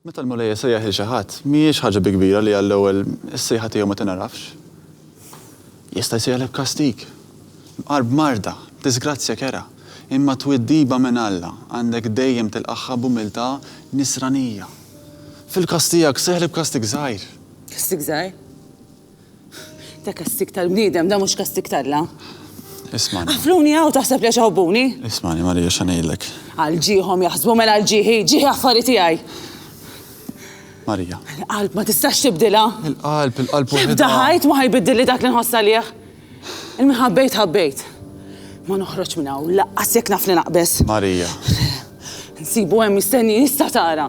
Meta l-Mulej isejjaħ lil xi ħadd, m'hijiex ħaġa bi kbira li għall-ewwel is-sejħa tiegħu ma tingħarafx. Jista' jsejjaħlek b'kastig, b'qar b'marda, b'diżgrazzja kerha, imma twiddiba minn Alla għandek dejjem tilqagħha b'umiltà Nisranija. Fil-każ tiegħek sejjaħlek b'kastig żgħir. Kastig żgħir? Ta' kastig tal-bniedem, dan mhux kastig t'Alla. Ismani. Qafluni hawn taħseb li għax iħobbuni? Ismani, Marija, x'għan ngħidlek. Għal ġieħhom jaħsbu, mela għal ġieħi, ġieħi affari tiegħi. Marija. Il-qalb ma tistax tibdilha. Il-qalb, il-qalb waħedha. Tibda ħajt ma ħajbiddilli dak li nħoss għalih. Il-min ħabbejt ħabbejt. Ma noħroġ minn hawn, laqqas jekk naf li naqbeż. Marija. Nsibu hemm mistenni jista' tara.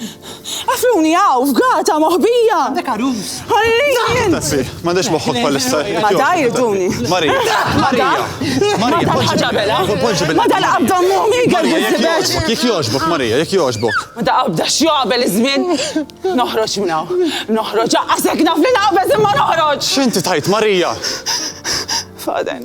Għafuni għaw, f'gata moħbija! Għandek għarus! Għalli! Mandex moħħok bħalissa. Ma dajr duni. Marija! Marija! Marija! Poġġi bella! Poġġi bella! Ma dal qabda mumi għal għizzibeċ! Jek joġbok, Marija, jek joġbok! Ma da qabda xjabel iż-żmien! Noħroġ minnaw! Noħroġ! Għasek naf li naqbeż imma noħroġ! Xinti tajt, Marija? Faden.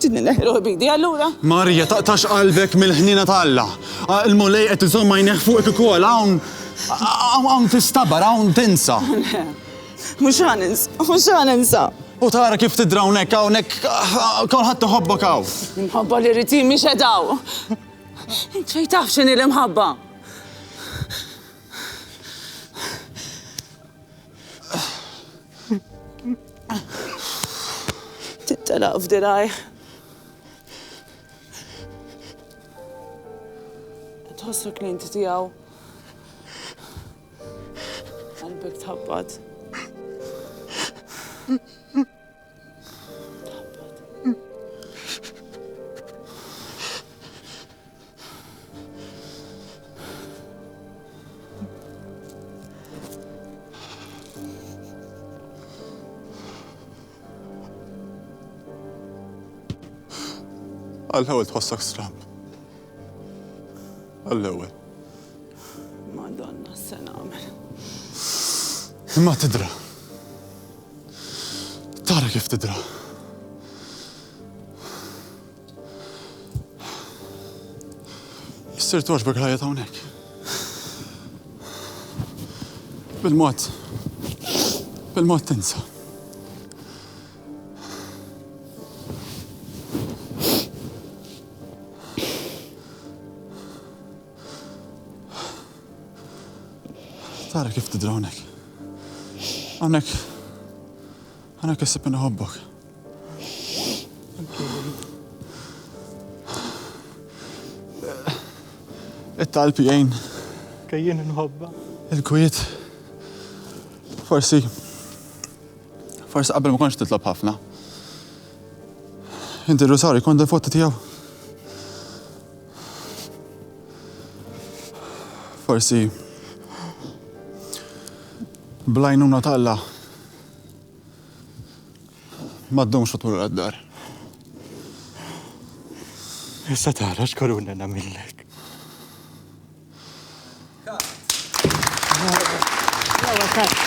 Sidni neħi ruħi b'idi allura. Marija taqtax qalbek mill-ħniena ta' Alla. Il-Mulej qed iżomm għajnejh fuqek ukoll hawn hawn tistabar hawn tinsa. Le. Mhux ħa ninsa, mhux ħa ninsa. U tara kif tidra hawnhekk hawnhekk kulħadd iħobbok hawn. L-imħabba li rrid hi mhix qed hawn. Int xejn taf x'inhi l-imħabba. Tittelaq f'dirgħajh. Tħossu klienti tiegħu. Qalbek tħabbat. Għall-ewwel tħossak stram. Għall-ewwel. Madonna, s-sena għamil. Imma tidra. Tara kif tidra. Issir toġbek ħajja ta' hawnhekk. Bil-mod. Bil-mod tinsa. Tara kif tidra hawnhekk. Hawnhekk. Hawnhekk issib minn iħobbok. It-talb jgħin. Kejjien inħobba. Il-kwiet. Forsi. Forsi qabel ma konx titlob ħafna. Inti rusaw jkun dil-fotta tiegħu. Forsi blajnuna ta' Alla ma ddumx u tmur għad-dar. Issa tara x'koruna nagħmillek. Cut.